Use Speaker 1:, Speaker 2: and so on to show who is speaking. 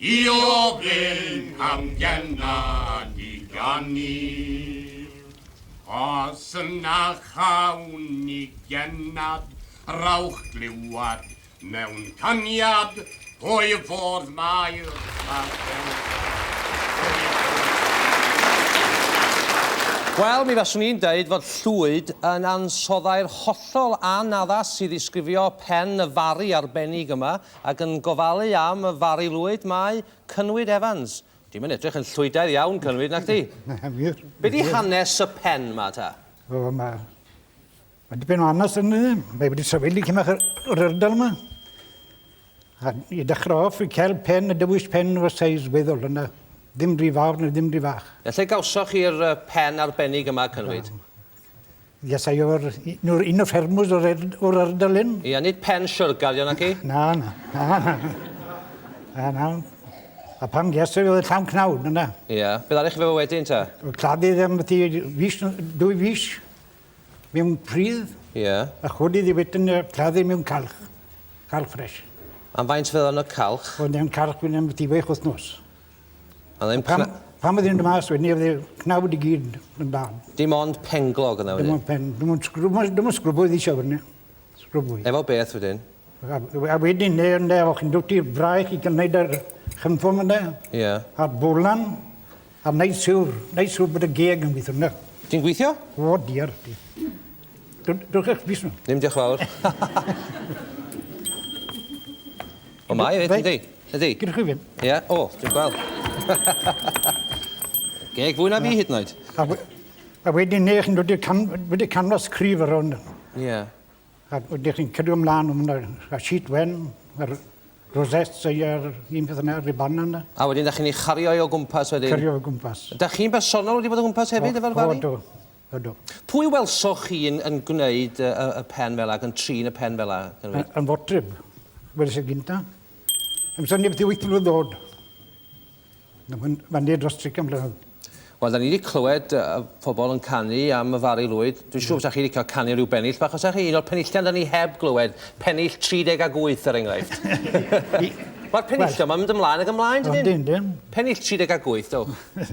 Speaker 1: I ofyn am gennan ni ganir. Os yna chawn ni gennad, rhowch glywad mewn caniad pwy fodd mai'r
Speaker 2: Wel, mi faswn i'n deud fod Llwyd yn ansoddair hollol anaddas i ddisgrifio pen y Fari arbennig yma, Ac yn gofalu am y Fari Lwyd mae Cynwyd Evans. Ti'm yn edrych yn llwydaidd iawn, Cynwyd, nac ti? Na, wir. Be di hanes y pen ma ta? O, ma... Mae
Speaker 3: dipyn o hanes yn ni. Mae wedi sefyll i cymach yr ardal yma. A i dechrau off, i cael pen, y dewis pen o seis weddol yna. Ddim rhy fawr na ddim rhy fach. Lle gawsoch chi'r
Speaker 2: pen arbennig yma, Cynwyd? Yes,
Speaker 3: I o'r nw'r un o ffermwrs o'r er, o'r ardal hyn. Ia, nid pen siwrgal
Speaker 2: yw naci? Na, na, na,
Speaker 3: na. Na, na. A pan ges i oedd y llawn cnawn, dyna. Ia, beth arall fe
Speaker 2: wedyn ta? Claddu ddim beth i
Speaker 3: fis, dwy fis mewn pridd. Ia. A chodi
Speaker 2: ddi wedyn
Speaker 3: claddu mewn calch. Calch ffres. Am faint fe yn
Speaker 2: y calch? Oedd e'n calch fynd am beth
Speaker 3: i wech wythnos. Yn pan, pan
Speaker 2: oedd yn mas wedyn ni, oedd y
Speaker 3: cnawd i gyd yn dan. Dim ond penglog
Speaker 2: yna wedyn? Dim ond pen, dim ond sgrwb,
Speaker 3: dim ond sgrwb oedd eisiau wedyn ni. Sgrwb oedd. Efo beth wedyn?
Speaker 2: A, a wedyn,
Speaker 3: ne, ne, o'ch chi'n dod i'r braich i gynnaid ar chynffon yna. Ie. Yeah. A'r
Speaker 2: bolan,
Speaker 3: a wneud siwr, wneud siwr bod y geg yn gweithio yna. Ti'n gweithio?
Speaker 2: O, diar.
Speaker 3: Dwch eich bus nhw. Ddim diolch fawr.
Speaker 2: O mae efyd yndi? Ydi. Gynnoch chi ddim. Ia
Speaker 3: o dwi'n gweld.
Speaker 2: Geg fwy na fi hyd yn oed. A we- a
Speaker 3: wedyn 'ny chi'n dod i'r cam- wedi canfas cryf ar rownd yno. Ia.
Speaker 2: A wedyn
Speaker 3: chi'n cadw ymlan ma' 'na y sheet wen yr rosettes y yr un peth yna ribana yna. A wedyn 'dach chi'n 'i chario
Speaker 2: 'i o gwmpas wedyn? Cario o gwmpas. 'Dach
Speaker 3: chi'n bersonol wedi
Speaker 2: bod o gwmpas hefyd efo'r fari? O do. Ydw.
Speaker 3: Pwy welsoch chi
Speaker 2: yn, yn gwneud y, y pen fel ac yn trin y pen fel Yn, yn fotref.
Speaker 3: Weles y gynta. Yn syni beth i wyth mlynedd ddod. Fan dros trican mlynedd. Wel, da ni wedi
Speaker 2: clywed uh, pobl yn canu am y Fari Lwyd. Dwi'n siŵr bod chi wedi cael canu rhyw bennill bach, os chi un o'r penillion da ni heb glywed, pennill 30 ag 8 er enghraifft. Mae'r penillion, well, mae'n mynd ymlaen ac ymlaen, dydyn? Dyn, dyn. Pennill 30 ag 8, dewch.